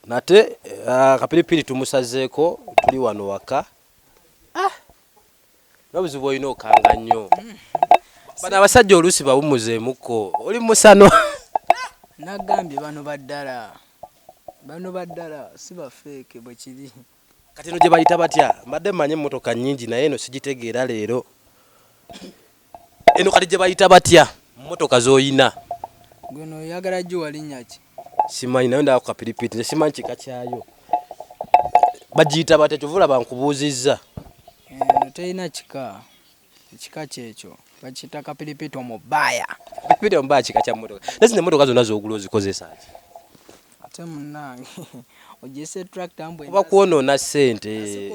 Nate akapiripiri tumusazeeko tuli wano waka ah! nobuzibu olina okanga nnyo bano abasajja oluusi bawumuzeemuko oli musano nagambye bano baddala bano baddala si bafeeke bwekiri Kati eno gyebayita batya? Mbadde mmanyi emmotoka nnyingi naye eno sigitegeera leero. Eno kati gyebayita batya mmotoka z'oyina? Gwe no oyagala giwa linnya ki? Simanyi nayo ndaba ku kapiripiiti nze simanyi kika kyayo. Bagiyita batya kyova olaba nkubuuzizza. Eno terina kika. Ekika kyekyo bakiyita kapiripiti omubaya. Kapiripiti omubaya kika kya mmotoka. Naye zino emmotoka zonna z'ogula ozikozesa ki? Ate munnange ogyesa etulakita mbu oba kwonoona ssente.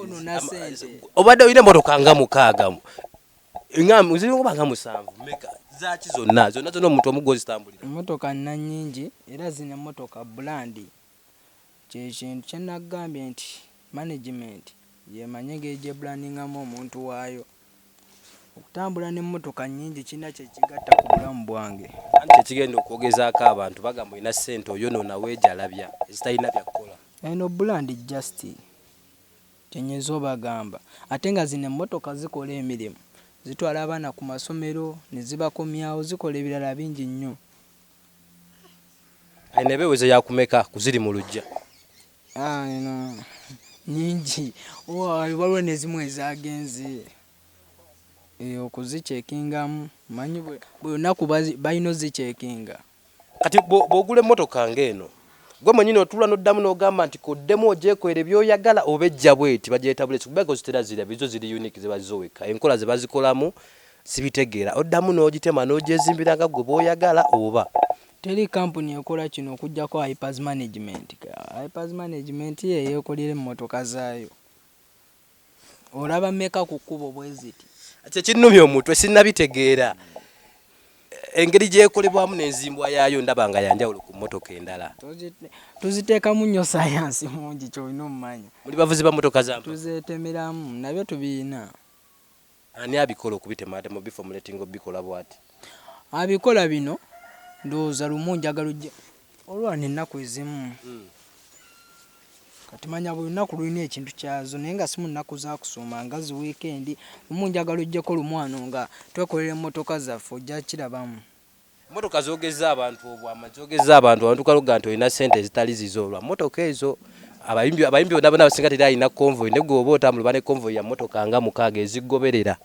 Obadde olina emmotoka nga mukaaga ziringa nga musanvu meka zaaki zonna zonna zonna omuntu omu gwozitambulira? Emmotoka nina nnyingi era zino emmotoka bulandi. kyekintu kyenagambye nti management yemanyi engeri gyebrandingamu omuntu waayo, okutambula nemotoka nyingi kirina kyekigatta kubulamu bwange. Anti kyekigenda okwogezaako abantu bagamba olina sente oyonona wejalabya ezitalina byakukola. Eno brand just kyenyinza obagamba ate nga zino emotoka zikola emirimu zitwala abaana kumasomero nezibakomyawo zikola ebirala bingi nnyo. Eno ebeweze yakumeka kuziri mu lujja? Ah, eno nyingi waliwo nezimu ezagenze eh, okuzikyekingamu manyi buli lunaku balina ozikyekinga. Kati bwogula emmotoka ng'eno gwe mwenyini otula noddamu nogamba nti koddemu ogyekolera byoyagala oba ejja bweti bagyetabulesi kubanga ozitera zirabye zo ziri unique ziba zo wekka enkola zebazikolamu Sibitegeera oddamu n'ogitema n'ogyezimbira nga ggwe bw'oyagala oba? Teri kkampuni ekola kino okuggyako Hypers Management. Hypers Management ye yeekolera emmotoka zaayo. Olaba mmeka ku kkubo bwe ziti? Kye kinnumya omutwe sinnabitegeera. Engeri gyekolebwamu n'enzimbwa yaayo ndaba nga ya njawulo ku mmotoka endala. Tuziteekamu nnyo sayansi mungi ky'olina omumanya. Muli bavuzi ba mmotoka za mpaka? Tuzeetemeramu, nabyo tubirina. Ani abikola okubitema ate mubiformulatinga obikola bwati? Abikola bino ndowooza lumu njagala ojja olwana ennaku ezimu kati manya buli lunaku lulina ekintu kyazo naye nga simu nnaku zakusuuma nga zi wiikendi lumu njagala ojjeko lumu ano nga twekolera emmotoka zaffe ojja kirabamu. Motoka zogezza abantu obwama zogezza abantu abantu kaloga nti olina sente ezitali zizo olwa motoka ezo abayimbi abayimbi bona bona abasinga teri alina convoy ne gwoba otambula bane convoy ya motoka nga mukaaga ezigoberera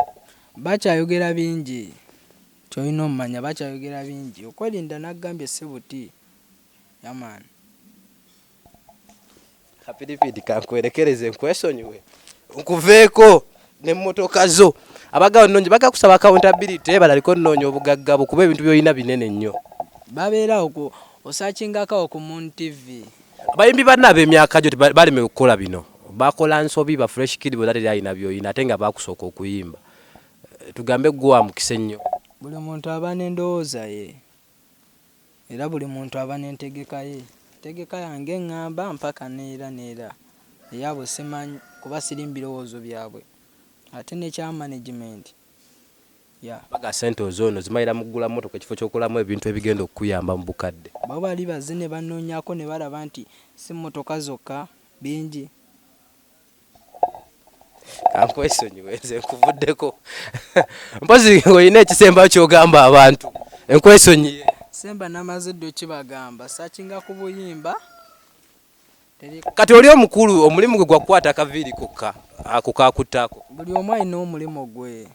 bakyayogera bingi kyolina omumanya bakyayogera bingi okwelinda nagambye sebuti yamaani. kapiripidi kankwerekereze nkwesonyiwe nkuveeko nemmotoka zo abagaba nonyi baga kusaba accountability balaliko nnoonya obugagga bwo kuba ebintu byolina binene nnyo babeerawo ku osakingakawo ku moon tv abayimbi banna ab'emyaka gyo baleme okukola bino bakola nsobi ba fresh kid bona teri alina byolina ate nga bakusooka okuyimba tugambe gwe wamukisa ennyo buli muntu aba n'endowooza ye Era buli muntu aba n'entegeka ye. Entegeka yange eng'amba mpaka n'era n'era. Eyaabwe simanyi kuba sirimu birowoozo byabwe. Ate n'ekya management, ya. Bagamba ssente ozoono zimalira mu kugula mmotoka ekifo ky'okugulamu ebintu ebigenda okukuyamba mu bukadde. Bo bali bazze ne banoonyako ne balaba nti si mmotoka zokka, bingi. kankwesonyiwe nze nkuvuddeko mpozi olina ekisembayo kyogamba abantu enkwesonyiye semba namaze ddi okibagamba sakinga ku buyimba kati oli omukulu omulimu gwe gwakukwata akaviiri kokka ako kakutako buli omu alina omulimu gwe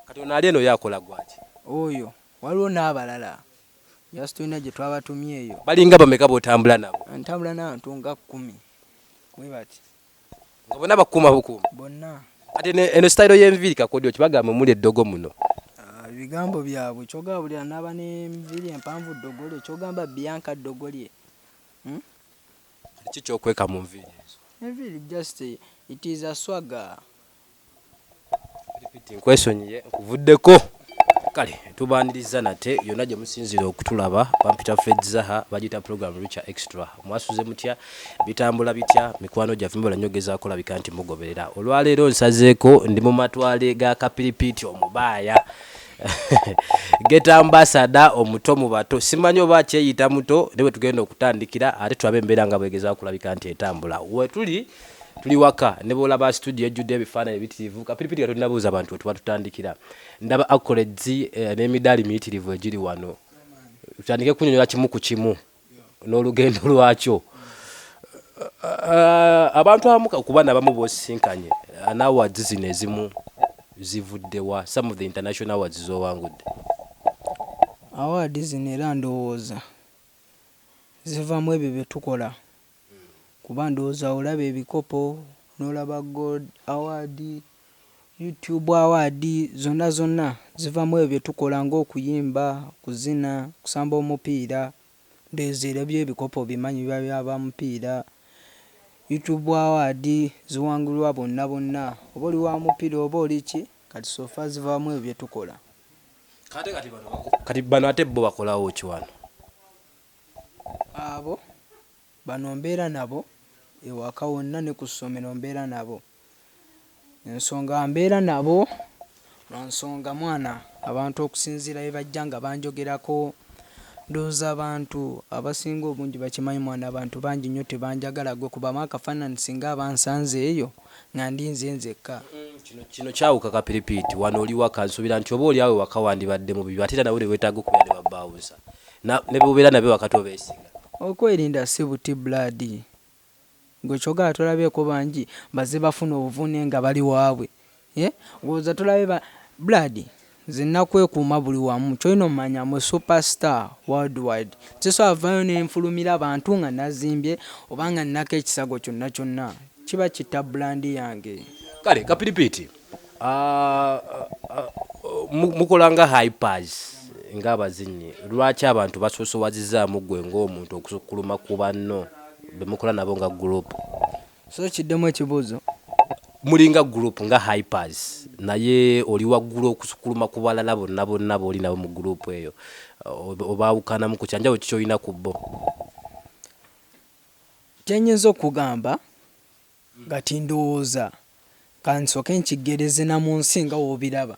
Kati ono ali eno ye akola gwaki? Oyo waliwo nabalala just tulina gyetwabatumye eyo. Balinga bameka botambula nabo? Ntambula nabantu nga kumi webati. Nga bona bakuuma bukuumi? Bonna. Kati eno eno style yenviiri kakodyo ki bagamba omuli eddogo muno? Ah, bigambo byabwe kyogamba buli anaba nenviiri empanvu ddogo lye kyogamba Bianca ddogo lye? Hmm? Kiki kyokweka mu nviiri ezo? Enviiri just it is a swagger. Repeat nkwesonyiye nkuvuddeko. Kale tubaaniriza nate yonna gye musinziira okutulaba. Bampita Fred Zaha, bagiyita pulogulaamu Richa Extra. Mwasuze mutya? Bitambula bitya? Mikwano gyaffe mubala nnyo okugezaako okulabika nti mugoberera. Olwa leero nsazeeko ndi mu matwale ga kapiripiiti omubaaya, Ghetto Ambassador omuto mu bato. Simanyi oba akyeyita muto naye we tugenda okutandikira ate tulabe embeera nga bw'egezaako okulabika nti etambula. We tuli tuli waka ne bwolaba studio ejjudde ebifaananyi bitirivu kapiripiti nga tolinabuuza abantu wetuba tutandikira ndaba accolades eh, n'emidaali miyitirivu egiri wano tutandike kunyonyola kimu ku kimu n'olugendo lwakyo eh, abantu abamu kuba nabamu bosisinkanye eh, nawards zino ezimu zivuddewa some of the international awards zowangudde awards zino era ndowooza zivamu ebyo byetukola Kuba ndowooza olaba ebikopo, n'olaba gold award, you tube award, zonna zonna ziva mwebyo byetukola nga okuyimba, okuzina, okusamba omupiira, ndowooza era ebyo ebikopo obimanyi biba bya ba mupiira, you tube award ziwangulwa bonna bonna oba oli wa mupiira oba oli ki kati so far ziva mwebyo byetukola. Kati bano ate bo bakolawo ki wano? Abo bano mbeera nabo ewaka wonna ne ku ssomero mbeera nabo. Ensonga mbeera nabo lwa nsonga mwana abantu okusinziira bye bajja nga banjogerako ndowooza abantu abasinga obungi bakimanyi mwana abantu bangi nnyo tebanjagala ggwe kubamu akafaananyi singa aba ansanze eyo nga ndi nze nzekka. Kino kino kyawuka kapiripiiti. Wano oli waka nsuubira nti oba oli awo ewaka wandibadde mu bibyo ate era nawe ne weetaaga okubeera ne babbaawunsa. Na ne bubera nabe wakati obesiga. Okwerinda si buti blood. Gwe kyogala tolabeko banji baze bafuna obuvune nga bali wabwe eh woza tolabe ba blood nze nakwekuuma buli wamu kyolina omanya am a super star world wide sisobola vayo nenfulumira bantu nga nazimbye oba nga ninako ekisago kyonna kyonna kiba kitta brand yange. Kale kapiripiiti. Ah, ah, mu- mukola nga hypers ng'abazinyi lwaki abantu basoosowazizzaamu ggwe ng'omuntu okusukkuluma ku banno be mukola nabo nga gurupu so kiddemu ekibuuzo mulinga gurupu nga hypers naye oli waggulu okusukkuluma ku balala bonna bonna booli nabo mu gurupu eyo Oba- obaawukanamu ku kyanjawulo kikyolina ku bo kyenyinza okugamba Kati ndowooza kansooke nkiggereze na mu nsi nga w'obiraba.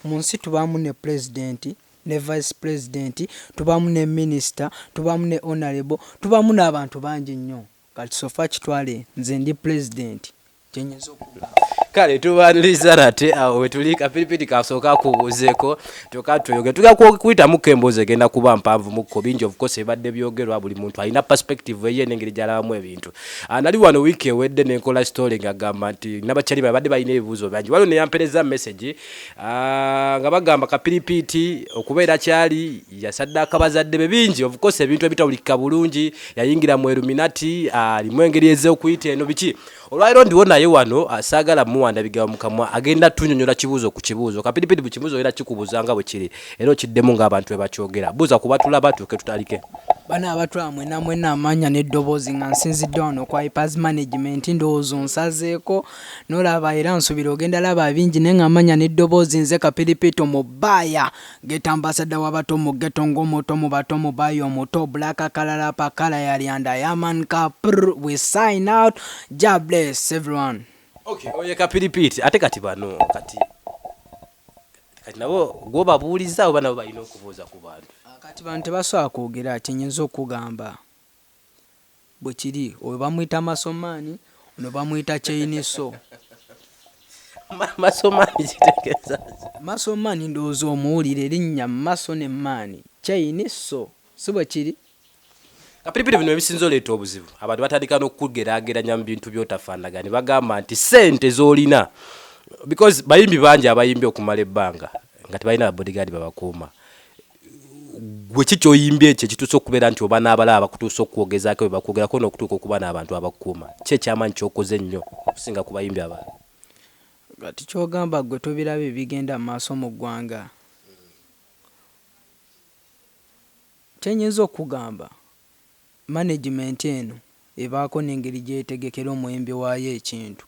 Mu nsi tubaamu ne Pulezidenti, ne Vice Pulezidenti, tubaamu ne Minisita, tubaamu ne Onalebo, tubaamu n'abantu bangi nnyo. Kati so far kitwale nze ndi Pulezidenti, kye nnyinza okukugamba. Kale tubaaniriza nate awo we tuli. Ka Piripiri kasooke akubuuzeeko kyokka tweyongere. Tugenda kuyitamuko emboozi egenda kuba mpanvumukko, bingi of course ebibadde byogerwa, buli muntu alina perspective eyiye n'engeri gy'alabamu ebintu. Ah, nali wano wiiki ewedde nenkola story ngagamba nti nabakyali babadde balina ebibuuzo bangi waliwo neyampereza message ah, nga bagamba kapiripiiti okubeera kyali yasaddaaka bazadde be bingi obukosa ebintu ebitawulikika bulungi yayingira mu eruminati alimu ah, engeri ez'okuyita eno biki olwaliro ndiwo naye wano saagala muwanda bigawa mukamwa agenda tunyonyola kibuuzo ku kibuuzo kapiripiiti buli kibuuzo era kikubuuza nga bwe kiri era okiddemu ng'abantu bwe bakyogera buuza ku batula batuuke tutalike bana abatwala mwena mwena amanya n'eddoboozi nga nsinzidde wano kwa ipers management ndowooza onsazeeko nolaba era nsubira ogenda laba bingi naye nga amanya n'eddoboozi nze kapiripito mu baaya geta ambasadda w'abato mu geto ng'omuto mu bato mu baaya omuto black kalala pakala yalyanda yaman kapr we sign out ja bless everyone okay, oye kapiripiti ate kati bano kati kati nabo gwobabuuliza oba nabo balina okubuuza ku bantu ah, kati bantu tebasobola kwogera kyenyinza okugamba bwe kiri oyo bamuyita masomaani ono bamuyita kyeiniso masomaani kitegeeza masomaani ndowooza omuwulira erinnya maso ne maani kyeiniso si bwe kiri kapiripiri bino ebisinza oleeta obuzibu abantu batandika n'okugeraageranya mu bintu byotafaanaga ne bagamba nti sente z'olina because bayimbi bangi abayimbi okumala ebbanga nga tebalina babodigadi babakuuma gwe ki kyoyimbye ekyo ekituusa okubeera nti oba n'abalaba bakutuusa okukwogezako bwe bakwogerako n'okutuuka okuba n'abantu abakukuuma ki ekyamaanyi kyokoze ennyo okusinga ku bayimbi abalala kati kyogamba gwe tobiraba ebigenda mu maaso mu ggwanga Kye nyinza okukugamba, manegimenti eno ebaako n'engeri gy'etegekera omuyimbi waayo ekintu.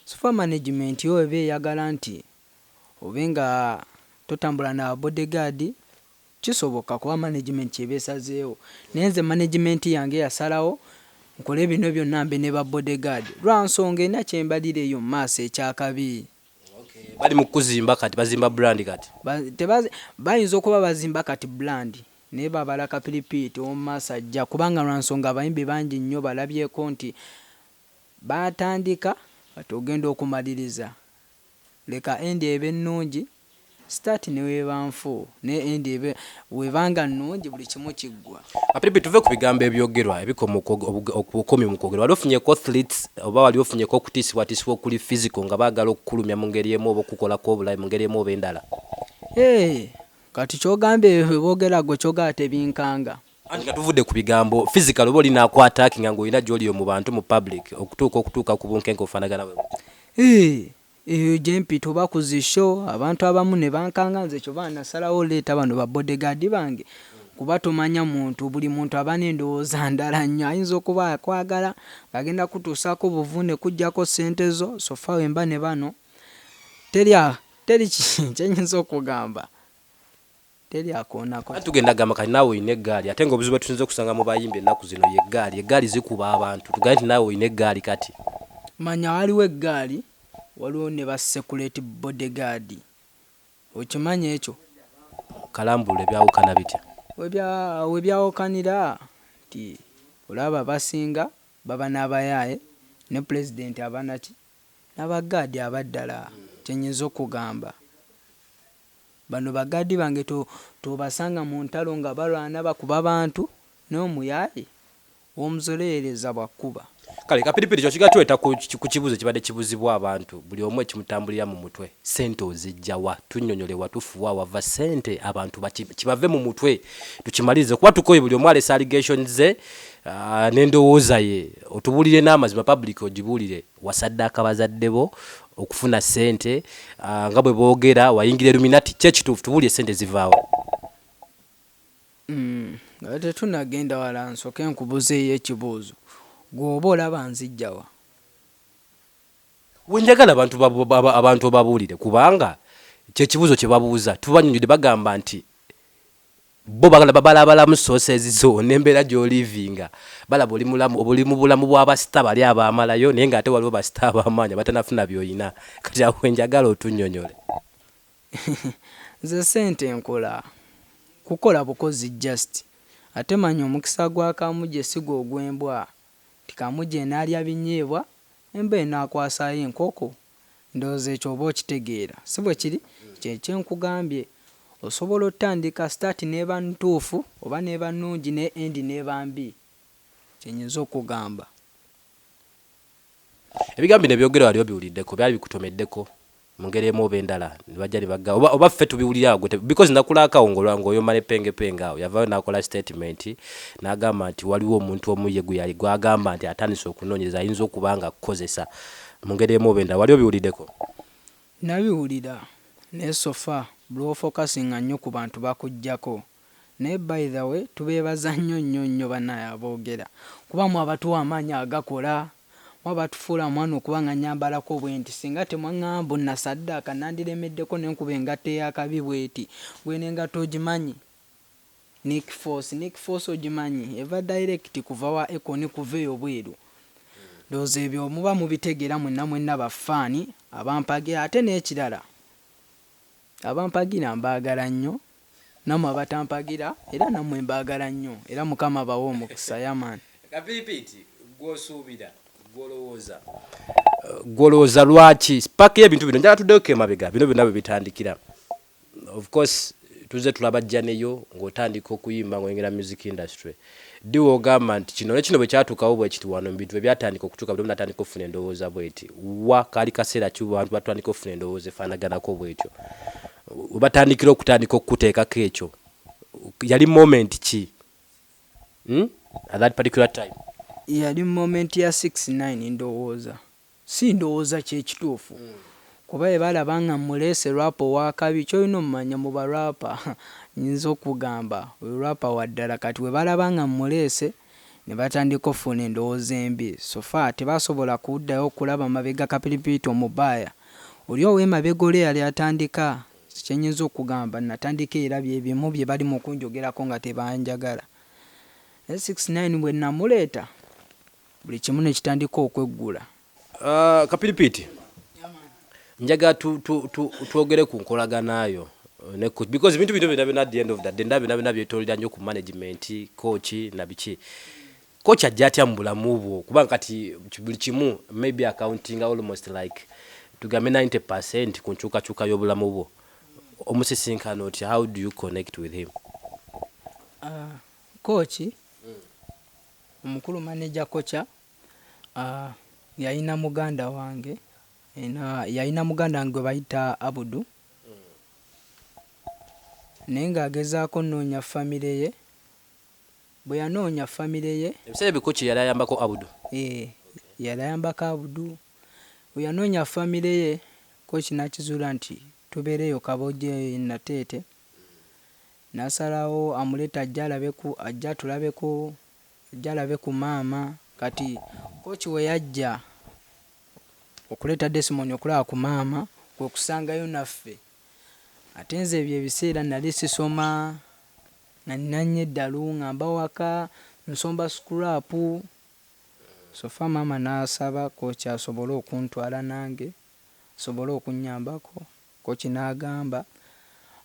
So far manegimenti yo eba eyagala nti obe nga totambula na bodyguard, kisoboka kuba manegimenti ky'eba esazeewo. Naye nze manegimenti yange yasalawo nkole bino byonna mbe ne ba bodyguard lwa nsonga erina kye mbalira eyo mu maaso eky'akabi. bali mu kuzimba kati bazimba brand kati bayinza okuba bazimba kati brand naye babala kapiripiiti omu maaso ajja kubanga lwa nsonga abayimbi bangi nnyo balabyeko nti baatandika kati ogenda okumaliriza leka endi ebe ennungi Start neweba nfu naye end ebe weba nga nungi buli kimu kiggwa. Apipi tuve kubigambo ebyogerwa ebikoma obukomi mukwogera wali ofunyeko threats oba wali ofunyeko okutiisibwatiisibwa okuli physical nga bagala okukulumya mungeri emu oba okukukolako obulabe mungeri emu oba endala. Eeh kati kyogamba ebyo byebogera gwe kyogamba ate binkanga. Anti nga tuvudde kubigambo physical oba oli naku attackinga nga olina gyoli oyo mubantu mu public okutuuka okutuuka kubunkenke obufanagana bwebutyo. Eeh Eyo gyempita oba ku zi show abantu abamu nebankanga nze kyoba nasalawo oleeta bano ba bodyguard bange kuba tomanya muntu buli muntu aba nendowooza ndala nnyo ayinza okuba akwagala nga agenda kutuusako buvune kujjako ssente zo so far wemba ne bano teri teri kyenyinza okugamba. teri akoonako. Anti tugenda gamba kati naawe olina eggaali ate nga obuzibu bwetusinze okusanga mu bayimbi ennaku zino ye ggaali. Eggaali zikuba abantu tugambe nti naawe olina eggaali kati. Manya waliwo eggaali waliwo ne ba sekuleti body guard okimanyi ekyo? Kalambulule byawukana bitya? Webyawukanira nti olaba abasinga baba n'abayaaye ne pulezidenti aba naki? N'aba ggaadi aba ddala kye nyinza okugamba. Bano ba guard bange tobasanga muntalo nga balwana bakuba bantu naye omuyaye womuzoleyereza bwakuba. Kale kapiripiri kino kigenda tuleeta ku kibuuzo ekibadde kibuzibwa abantu buli omu ekimutambulira mu mutwe sente ozijja wa? Tunyonyole watufu wa wava sente abantu baki kibave mu mutwe tukimalirize kuba tukoye buli omu alese allegation ze ne ndowooza ye otubulire n'amazima public ogibuulire Wasaddaaka bazadde bo okufuna ssente nga bwe boogera. Wayingira Illuminati. Ki ekituufu? Tubuulire, ssente ziva wa? Nga tetunnagenda wala nsooke nkubuzeeyo ekibuuzo. Ggwe oba olaba nzijja wa? Ggwe njagala abantu obabuulire kubanga kye kibuuzo kye babuuza. Tubanyonjodde bagamba nti. Bo bagala babala abalamu sources zo nembera gyolivinga balaba oli mulamu oli mubulamu bwa ba star bali abamalayo naye nga ate waliwo ba star abamaanyi abatanafuna byoyina kati awo wenjagala otunyonyole. Nze sente nkola kukola bukozi just ate manya omukisa gwa kamuje si gwogwembwa nti kamuje enalya binyeebwa embwa enakwasaayo enkoko Ndowooza ekyo oba okitegeera, si bwe kiri? Kye kye nkugambye. Osobola otandika, start n'eba ntuufu, oba n'eba nnungi, naye end n'eba mbi. Kye nnyinza okukugamba. Ebigambo bino ebyogerwa wali obiwuliddeko? Byali bikutomeddeko, mu ngeri emu oba endala, ne bajja ne bagga, oba, oba ffe tubiwulira awo? Ggwe te, because nakulaaka awo nga, nga oyomba ne pengepenge awo. Yavaayo n'akola statement, n'agamba nti, Waliwo omuntu omu ye gwe yali, gw'agamba nti atandise okunoonyereza, ayinza okuba nga akukozesa. Mu ngeri emu oba endala wali obiwulideko? Nabiwulira naye so far bwofocusinga nnyo ku bantu bakujjako naye by the way tubebaza nnyo nnyo nnyo banaye abogera kuba mwe abatuwa amaanyi agakola mwe abatufuula mwana okuba nga nyambalako bwenti singa temwangamba mbu nasaddaaka nandiremeddeko nenkuba engatto eyakabi bweti gwe nengatto ogimanyi Nick force Nick force ogimanyi eva direct kuva wa Akon kuva eyo bweru ndowooza ebyo muba mubitegera mwenna mwenna ba fan abampagira ate nekirala abampagira mbagala nnyo namwe abatampagira era namwe mbagala nnyo era mukama abawe omukisa yeah man. Kapipiiti gwe osuubira gwe olowooza gwe olowooza lwaki spark yebintu bino njagala tuddeyo ko emabega bino byonna bwebitandikira Of course tuzze tulabajja neyo ng'otandika okuyimba ng'oyingira mu music industry. Ddi w'ogamba nti kino ne kino bwe kyatuukawo bwe kiti wano mu bintu bwe byatandika okutuuka buli omu n'atandika okufuna endowooza bw'eti? Wa kaali kaseera ki abantu batandika okufuna endowooza efaanaganako bw'etyo? We batandikira okutandika okukuteekako ekyo yali moment ki hmm? at that particular time? Yali moment ya 69 ndowooza. Si ndowooza kye kituufu kuba bwe balaba nga mmuleese rap ow'akabi ky'olina ommanya mu ba rapper nnyinza okugamba oyo rapper wa ddala kati bwe balaba nga mmuleese ne batandika offuna endowooza embi so far tebasobola kuddayo okulaba mabega Kapiripiiti omubaaya oli ow'emabega oli eyali atandika nze kye nnyinza okugamba nnatandika era bye bimu bye bali mu kunjogerako nga tebanjagala naye Six Nine bwe nnamuleeta buli kimu ne kitandika okweggula. Uh, kapiripiiti njaga tu, tu, tu, twogere ku nkolagana yo uh, ne coach because bintu bino bina bina the end of the day ndabina bina byetolera nyo ku management coach na biki coach ajja atya mu bulamu bwo kuba kati buli kimu maybe accounting almost like tugambe 90% ku nkyukakyuka y'obulamu bwo omusisinkana otya how do you connect with him uh, coach mm. Omukulu manager Kocha yalina muganda wange yalina muganda wange gwe bayita Abudu naye ng'agezaako nnoonya famire ye. Bwe yanoonya famire ye. Ebiseera ebyo Kocha yali ayambako Abudu? Ee, yali ayambako Abudu. Bwe yanoonya famire ye Kocha n'akizuula nti tubeereyo Kabojje e Nateete. Nasalawo amulete ajje alabe ku ajje atulabeko ajje alabe ku maama. Kati coach weyajja okuleta Desmond okulaba ku maama kwekusangayo naffe ate nze ebyo ebiseera nali sisoma nalina nnyo eddalu ngamba waka nsomba scrap so far maama nasaba coach asobole okuntwala nange asobole okunyambako. Kooki n'agamba,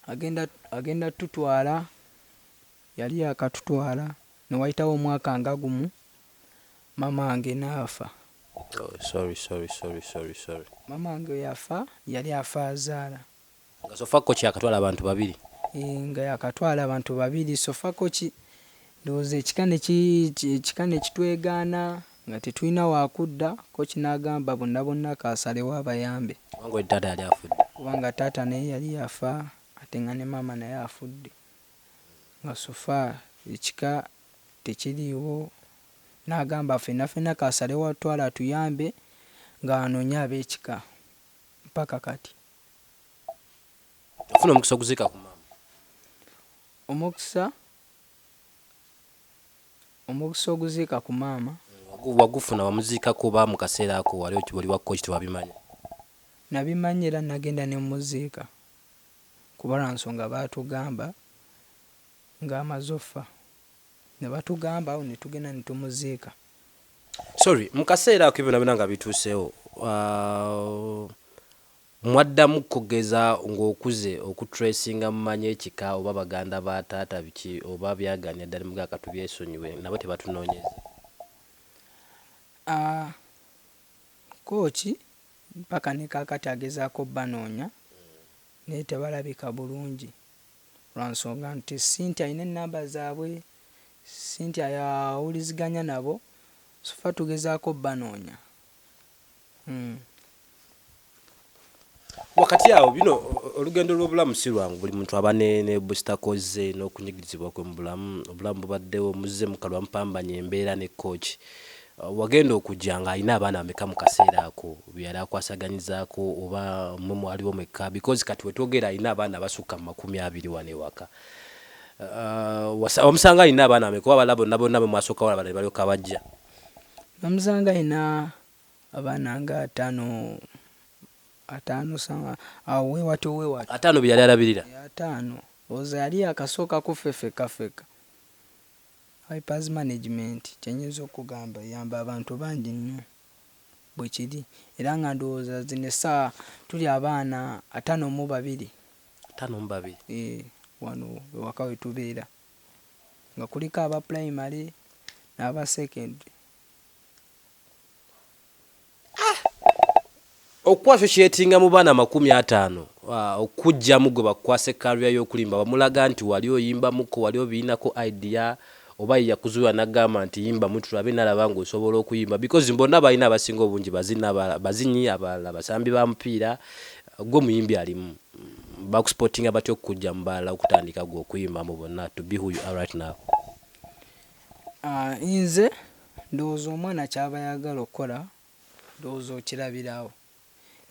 Agenda, agenda tutwala. Yali yaakatutwala. Ne wayitawo omwaka nga gumu, maama wange n'afa. Oh, sorry, sorry, sorry, sorry, sorry. Maama wange bwe yafa, yali afa azaala. Nga Sofa Kooki yaakatwala abantu babiri? Yee, nga yaakatwala abantu babiri. Sofa Kooki, ndowooza ekika ne ki, ekika ne kitwegaana. Nga tetulina wakudda ko kinagamba bonna bonna kasalewo abayambe. Kubanga oli taata yali afudde. Kubanga taata naye yali yafa ate nga ne maama naye afudde nga so far ekika tekiliiwo nagamba fenna fenna kasalewo atutwale atuyambe nga anoonye abekika mpaka kati. Yafuna omukisa okuziika ku maama. Omukisa. Omukisa oguziika ku maama. Wagufuna, wamuziikako oba mu kaseera ako wali oli wa kkoki tewabimanya? Nabimanya era nagenda ne mmuziika kuba lwa nsonga baatugamba ng'amaze offa ne batugamba awo ne tugenda ne tumuziika. Sorry, mu kaseera ako ebyo byonna nga bituuseewo Mwaddamu kogeza ngokuze oku tracinga mumanyi ekika oba baganda ba taata biki oba byaganya ddala mugaka tubyesonyiwe nabo tebatunonyeze. Aah kooki mpaka ne kakati agezaako obbanoonya naye tebalabika bulungi lwansonga nti Cynthia alina ennamba zaabwe, Cynthia y'awuliziganya nabo, so ffe tugezaako obbanoonya. Hmm. wakati awo bino olugendo lw'obulamu si lwangu buli muntu aba ne busitakoze n'okunyigirizibwa kwe mu bulamu obulamu bubaddewo muzze mukalwa mupambanya embeera ne kooki uh, wagenda okujja ng'alina abaana bameka mu kaseera ako byeyali akwasaganyizaako oba mwe mwaliwo mwekka because kati wetwogera alina abaana abasukka mu makumi abiri wano ewaka uh, wamusanga alina abaana bameka oba balabo nabonna bwe mwasooka wala balali balyoka bajja Namusanga alina abaana nga ataano ataano sa- awo wewatyo wewatyo ataano be yali alabirira Eh, ataano oza yali yakasooka kuffe fekka fekka vipers management kyenyinza okugamba eyamba abantu bangi nnyo bwekiri era nga ndowooza zino essaawa tuli abaana ataano mu babiri ataano mu babiri eh, wano ewaka wetubeera. nga kuliko aba pulayimale n'aba sekendule. okukwasa ekyetinga mu baana amakumi ataano ah, okujjamu gwe bakwasa ekkalubya y'okulimba bamulaga nti wali oyimbamuko wali obiinako idea oba yeyakuzuula nagamba nti yimbamu tulabe nalaba ng'osobola okuyimba because mbonna balina abasinga obungi bazinyi abalala basambi ba mupiira gwe muyimbi alimu Bakusportinga batya okukujja mu balala okutandika gwe okuyimba mu bonna to be who you are right now? Ah, nze ndowooza omwana kyaba ayagala okukola ndowooza okirabira awo.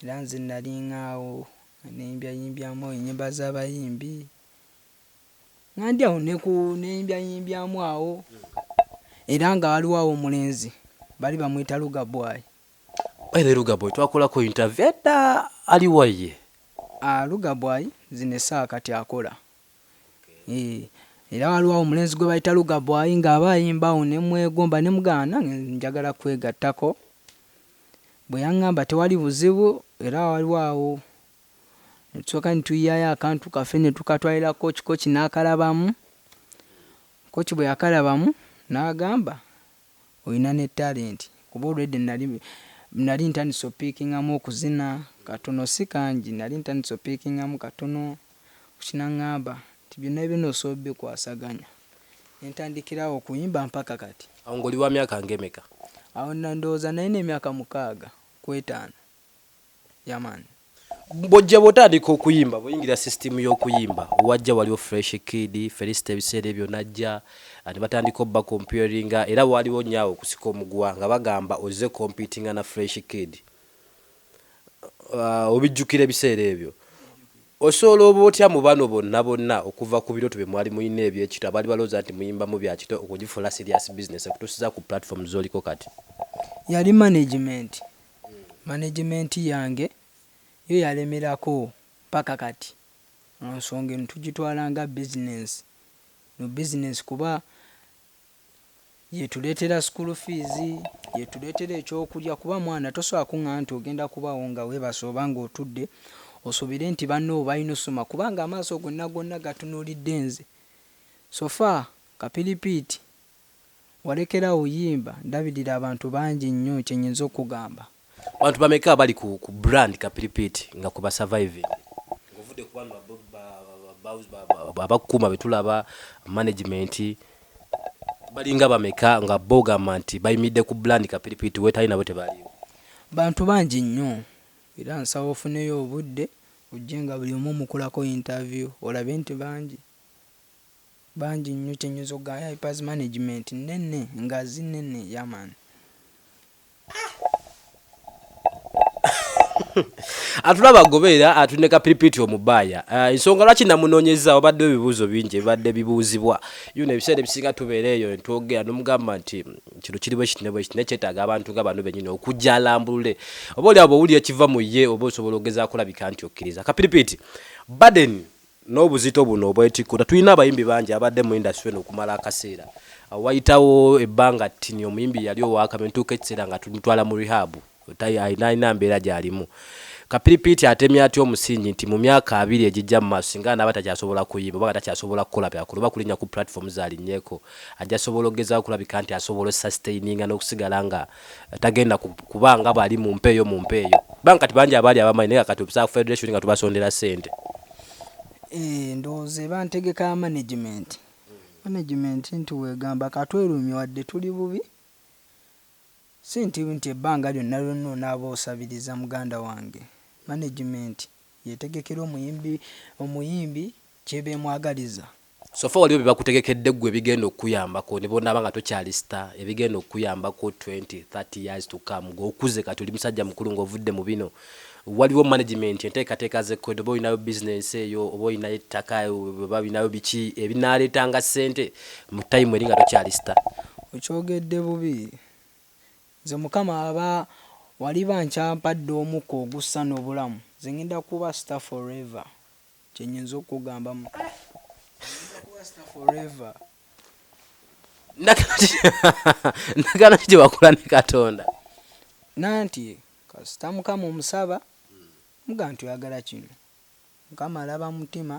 Era nze nnalinga awo nga neyimbyayimbyaamu ennyimba z'abayimbi, nga ndi awo ne ku, neyimbyayimbyaamu awo. Era nga waliwo awo omulenzi baali bamuyita Lugabwai, Ere Lugabwe twakolako interview edda ali wa ye? Ah Lugabwai zino essaawa kati akola eeh era waliwo awo omulenzi gwe bayita Lugabwai nga aba ayimba awo ne mmwegomba ne mugaana nange njagala kwegattako bwe yang'amba tewali buzibu era waliwo awo ne tusooka ne tuyiyayo akantu kaffe ne tukatwalira Kooki Kooki n'akalabamu Kooki bwe yakalabamu n'agamba Olina ne talent kuba already nali nali ntandise opikingamu okuzina katono si kangi nali ntandise opikingamu katono kati nangamba nti byonna byonna osobola obikwasaganya ne ntandikirawo okuyimba mpaka kati. Awo ng'oli wa myaka ng'emeka? Awo ndowooza nalina emyaka mukaaga ku etaano. Yeah man. Bwojja bwotandika okuyimba bwoyingira system yokuyimba wajja waliwo fresh kid felista ebiseera ebyo najja and batandika obba comparinga era waliwo nyo awo okusika omuguwa nga bagamba ozze competinga na fresh kid uh, obijjukira ebiseera ebyo osobola oba otya mu bano bonna bonna okuva ku birooto bye mwali mulina ebyekito abaali balowooza nti muyimbamu bya kito okugifuula serious business okutuusiza ku platform zoliko kati yali management Management yange yo yalemerako paka kati nga nsonga eno tujitwala nga business no business kuba yetuletera school fees, yetuletera ekyokulya kuba mwana tosobola kungamba nti ogenda kubawo nga webase oba nga otudde osubire nti banno balina osoma kubanga amaaso gonna gonna gatunulidde nze so far kapiripiiti. Walekerawo yimba ndabirira abantu bangi nnyo kyenyinza okukugamba. Bantu bameka abali ku ku brand kapiripiiti nga ku ba surviving nga ovudde ku bano ba abakukuma betulaba management balinga bameka nga bo ogamba nti bayimidde ku brand kapiripiiti wetali nabo tebaliwo. Bantu bangi nnyo era nsaba ofuneyo obudde ojje nga buli omu omukulako interview olabe nti bangi. Bangi nnyo kyenyozo guy hypers management nene nga zi nene yaman. atulaba agobeera atulina kapiripiti omubaaya ah, ensonga lwaki namunoonyeza wabaddewo ebibuuzo bingi ebibadde bibuuzibwa yona ebiseera ebisinga tubeera eyo netwogera nomugamba nti kino kiriwo ekitine bwekiti naye kyetaaga abantu nga bano benyini okujja alambulule oba oli abo owulira ekiva mu ye oba osobola ogeza kulabika nti okkiriza kapiripiti baden N'obuzito buno obwetikkula tulina abayimbi bangi ababadde mu industry eno okumala akaseera. Awo wayitawo ebbanga ttini omuyimbi yali ow'akamyu ne tutuuka ekiseera nga tumutwala mu rehab talina mbeera gy'alimu. Kapiripiiti atemye atya omusingi nti mu myaka abiri egijja mu maaso singa anaaba takyasobola kuyimba oba nga takyasobola kukola byakola oba kulinnya ku platform z'alinnyeko ajja sobola okugezaako okulabika nti asobola osusitaininga n'okusigala nga tagenda kuba nga bwali mu mpeeyo mu mpeeyo kubanga kati bangi abaali abamanyi naye kati obisaba ku federation nga tubasondera ssente eh, ndowooza eba ntegeka ya management management nti weegamba katwerumye wadde tuli bubi si nti nti ebbanga lyonna lyonna onaaba osabiriza muganda wange management yetegekera omuyimbi omuyimbi kyebemwagaliza Sofa waliwo byebakutegekedde ggwe ebigenda okukuyambako nebwonaaba nga tokyali star ebigenda okukuyambako twenty, thirty years to come gwe okuze kati oli musajja mukulu nga ovudde mu bino waliwo management enteekateeka zekoledde oba olinayo business eyo oba olinayo ettaka oba olinayo biki ebinaaleetanga ssente mu time eri nga tokyali star. Okyogedde bubi nze mukama aba waliba nkyampadde omukka ogussa nobulamu nze ngenda kuba star forever. Kyenyinza okugamba mu forever ndagana ki gyebakola ne katonda nanti kasita mukama omusaba muga nti oyagala kino mukama alaba mutima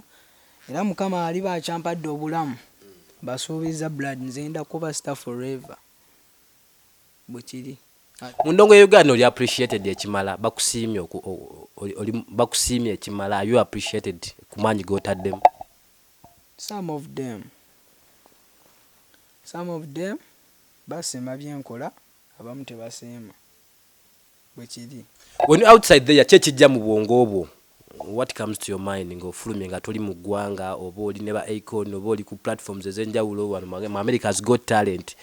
era mukama aliba akyampadde obulamu basuubiza blood nzenda kuba star forever bwekiri mu ndongo ya Uganda oli appreciated ekimala bakusiimye oli bakusiimye ekimala you appreciated ku maanyi g'otaddemu some of them some of them basiima byenkola abamu tebasiima bwekiri when you outside there kye kijja mu bwongo bwo what comes to your mind nga ofulumye nga toli mu ggwanga oba oli ne ba icon oba oli ku platforms ezenjawulo wano mu america has got talent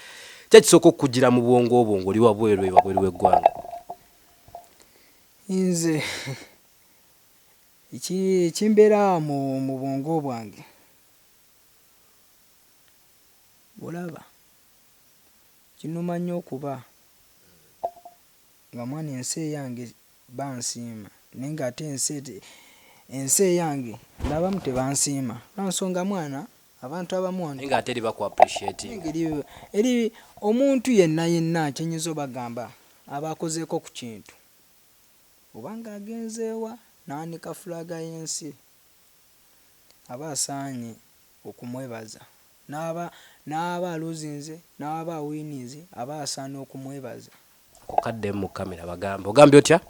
kye kisooka okukujjira mu bwongo obwo ngoli wabweru ewabweru w'eggwanga nze ekimbeera mu mu bwongo bwange olaba Kinuma nyo okuba nga mwana ensi eyange bansiima naye nga ate ensi ensi eyange nabamu tebansiima lwansonga mwana abantu abamu wano nga ateri baku appreciating eri omuntu yenna yenna kyenyinza obagamba aba akozeeko ku kintu obanga agenzeewa naanika flag yensi aba asaanye okumwebaza n'aba n'aba aluzinze n'aba awiininze aba asaana okumwebaza. Ako kaddemu mu kkamera bagambe. Ogambye otya?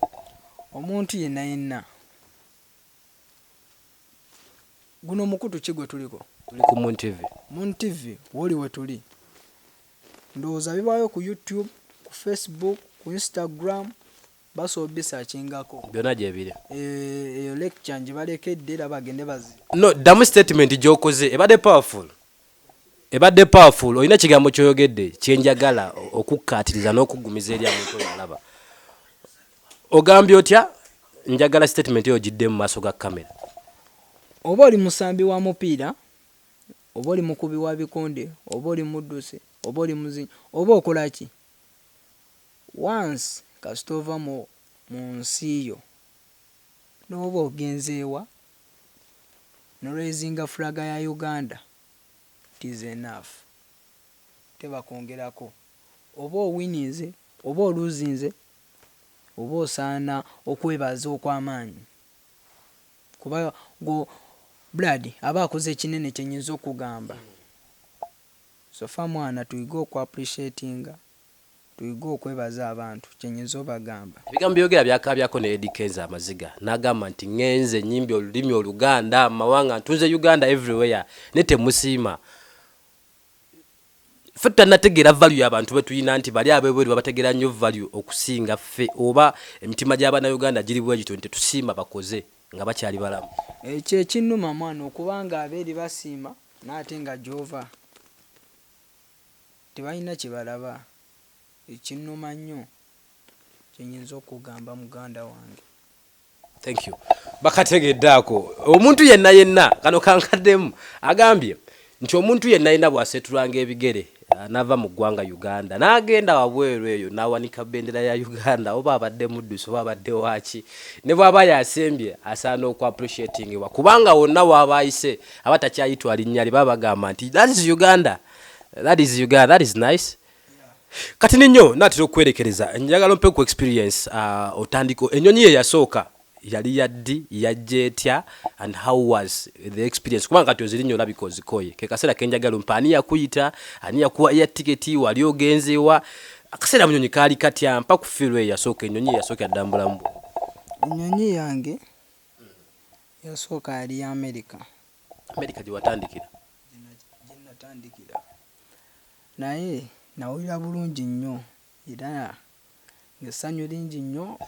Omuntu yenna yenna. Guno mukutu ki gwe tuliko? Tuli ku Moon TV. Moon TV wooli we tuli. Ndowooza bibaayo ku YouTube, ku Facebook, ku Instagram, Baso bisakingako. Byona gyebire. Eh, eyo lecture njibalekedde era bagende bazi. No, damu statement gyokoze ebadde powerful. Ebadde powerful. Olina kigambo kyoyogedde kyenjagala okukkaatiriza n'okuggumiza eri abantu oyo alaba. Ogambye otya? Njagala statement eyo gidde mu maaso ga kamera. Oba oli musambi wa mupiira, oba oli mukubi wa bikonde, oba oli muddusi, oba oli muzinyi, oba okola ki? Once kasita ova mu munsi yo noba ogenzewa no raisinga flag ya Uganda it is enough teba kwongerako oba owininze oba oluzinze oba osaana okwebaza okwamaanyi kuba gwo blood aba akoze kinene kyenyinza okugamba. So far mwana tuyige oku appreciatinga tuyige okwebaza abantu kyenyiza obagamba. Ebigambo byoyogera byakaabyako ne Eddy Kenzo amaziga nagamba nti ngenze nyimbye olulimi oluganda mu mawanga ntunze Uganda every where naye temusiima ffe tutanategeera value ya bantu betuyina nti bali abebweru babategeera nnyo value okusinga ffe oba emitima gya bana Uganda giri bwegityo nti tetusiima bakoze nga bakyali balamu. Ekyo ekinuma mwana okuba nga aberi basiima naye ate nga gyova tebalina kyebalaba ekyo kinuma nnyo kyenyinza okugamba muganda wange. Thank you bakategedde ako omuntu yenna yenna kano kankaddemu agambye nti omuntu yenna alina bw'aseetulanga ebigere ah, n'ava mu ggwanga Uganda n'agenda wabweru eyo n'awanika bendera ya Uganda oba abadde muddusi oba abadde waaki ne bw'aba yasembye asaana oku appreciatingibwa kubanga wonna w'aba ayise aba takyayitwa linnya lye baba bagamba nti that is Uganda that is Uganda that is nice kati ninyo natera okwerekereza njagala ompe ku experience uh, otandika enyonyi ye yasooka Yali ya ddi? Yajja etya? And how was the experience? Kubanga kati ozirinya olabika ozikoye. Ke kaseera ke njagala ompe ani yakuyita, ani yakuwa air ticket, wali ogenze wa? Akaseera mu nnyonyi kaali katya? Mpa ku feel eyasooka, ennyonyi eyasookera ddala mu bulamu bwo. Ennyonyi yange eyasooka yali ya Amerika. Amerika gye watandikira? Gye natandikira. Naye nawulira bulungi nnyo era essanyu lingi nnyo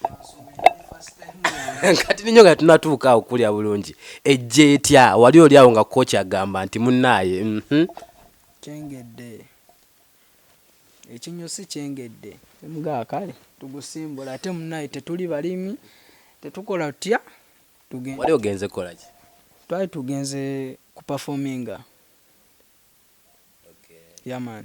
kati ninyo nga tunatuuka awo kulya bulungi ejja etya wali oli awo nga kooki agamba nti munnaaye mhm. kyengedde ekinyusi kyengedde mga kale tugusimbula ate munnaaye tetuli balimi tetukola tutya wali ogenze kukolaki twali tugenze kupafominga yaman okay. yeah,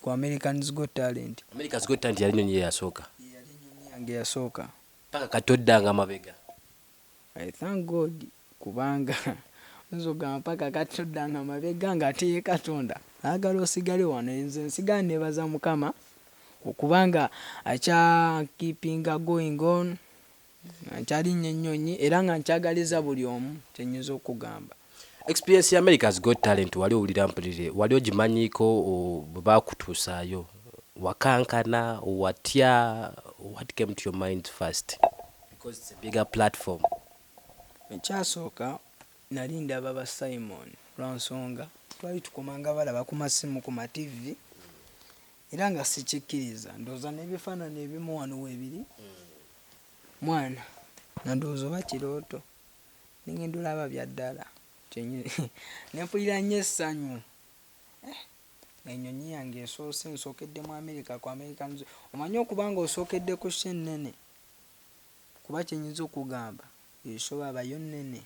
ku Americans Got Talent. America's Got Talent yali nyonyi yeyasooka. Yeyali enyonyi yange eyasooka. Paka kati oddanga mabega. I thank God kubanga oyinza ogamba paka kati oddanga mabega nga ate ye Katonda ayagala osigale wano. Nze nsigala nebaza Mukama okubanga akya keepinga going on. nga nkyalinnya ennyonyi era nga nkyagaliza buli omu kyenyinza okugamba. Experience ya America's Got Talent wali owulira mpulire wali ogimanyiiko bwe baakutuusaayo wakankana watya what came to your mind first because it's a bigger platform. Ekyasooka nali ndaba ba Simon lwa nsonga twali tukomanga balaba ku masimu ku mativi era nga sikikkiriza ndowooza n'ebifaanani ebimu wano weebiri mwana nga ndowooza oba kirooto nengenda olaba bya ddala nempulira nnyo essanyu eh, enyonyi yange esoose nsookedde mu amerika ku american omanyi okuba nga osookedde ku sha ennene kuba kyenyinza okugamba esoba abayo nnene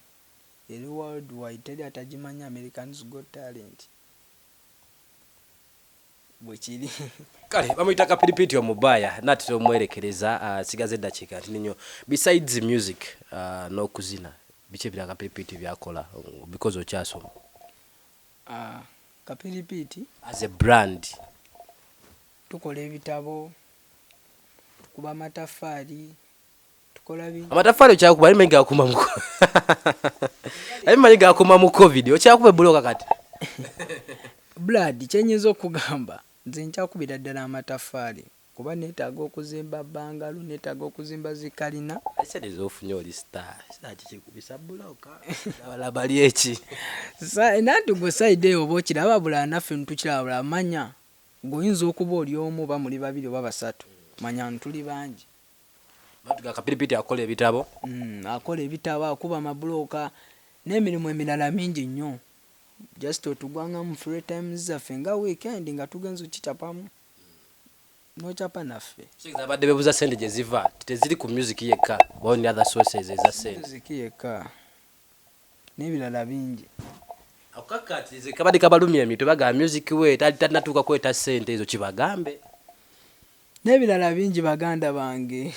eri world wide teri atagimanya americans got talent bwekiri kale bamuyita kapiripiti omubaya natera omuwerekereza ah, sigaza eddakiika ntini nnyo besides music ah, n'okuzina biki ebira kapiripiti byakola because okyasoma ah, kapiripiti as a brand tukola ebitabo tukuba amataffaali amatafari okyakuba aye manyi gakuma mu aye manyi gakuma mu covid okyakuba ebuloka kati blood kyenyinza okugamba nze nkyakubira ddala amatafari kuba netaaga okuzimba bangalo netaaga okuzimba zikalina ekisedeeza ofunye oli star star kikikubisa buloka abala bali eki nanti gwe side eyo oba okiraba bula naffe ntukiraba bula manya gwe oyinza okuba oli omu oba muli babiri oba basatu manya ntuli bangi Matuga Kapiripiti akola ebitabo. Mm, akola ebitabo, akuba amabulooka n'emirimu emirala mingi nnyo. Just otugwa nga mu free times zaffe nga weekend nga tugenze okicapamu n'ocapa naffe. Kitegeeza abadde bebuza sente gye ziva teziri ku music yekka bawo ne other sources eza sente. Music yekka n'ebirala bingi. Akukakkaatirize kabadde kabalumya emitwe bagamba music we talina tuuka kweta sente ezo kibagambe. Nebilala bingi baganda bange.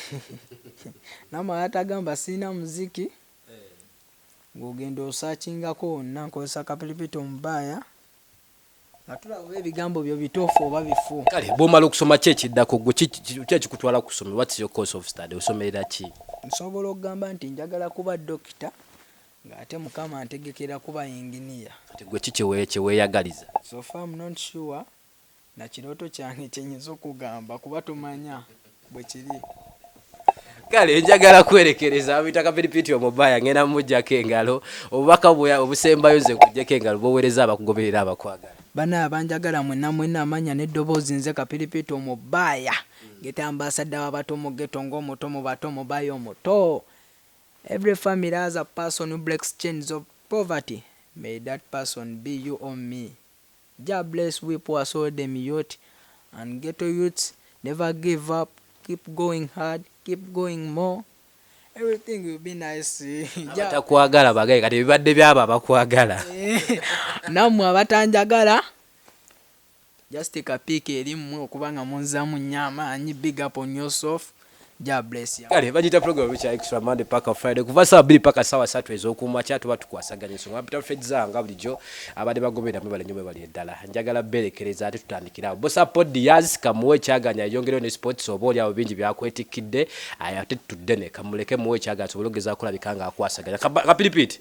Namwe abatagamba silina muziki nga ogenda osakingako wonna nkozesa kapiripiito omubaaya nga tulaba oba ebigambo byo bituufu oba bifu. Kale bwomala okusoma ki ekiddako gwe ki ekikutwala ku ssomero what's your course of study osomerera ki? Nsobola okugamba nti njagala kuba dokita ng'ate mukama antegekera kuba yinginiya. Kati gwe ki kye weeyagaliza? So far am not sure na kirooto kyange kyenyinza okugamba kuba tomanya bwe kiri kale njagala kwerekereza abita kapiripiti omubaya ngenda mumujjako engalo obubaka obusembayo nze nkujjeko engalo bowereza abakugoberera abakwagala bana abanjagala mwena mwena amanya neddoboozi nze kapiripiti omubaya ngeta ambasadda wabato mugeto ngaomuto mubato mubaya omuto every family has a person who breaks chains of poverty may that person be you or me Jah bless we poor soul dem youth and ghetto youths never give up keep going hard keep going more everything will be nice Jah Abatakwagala bagaye kati ebibadde byabo abakwagala. Nammwe abatanjagala just ka pic eri mmwe okuba nga munzaamu nnyo amaanyi big up on yourself. Ja bless ya. Kale bajita program which are extra Monday paka Friday kuva saa bili paka sawa satu ezo kuma chatu watu kwa saganya so ngapita Fred za ngabuli jo abade bagobera mwe bali nyumwe bali edala njagala bele keleza ati tutandikira bo support the yaz kamuwe chaganya yongero ne sports oboli abo bingi bya kwetikide aya tetu dene kamuleke muwe chaganya so bulogeza kula bikanga akwasaganya kapilipiti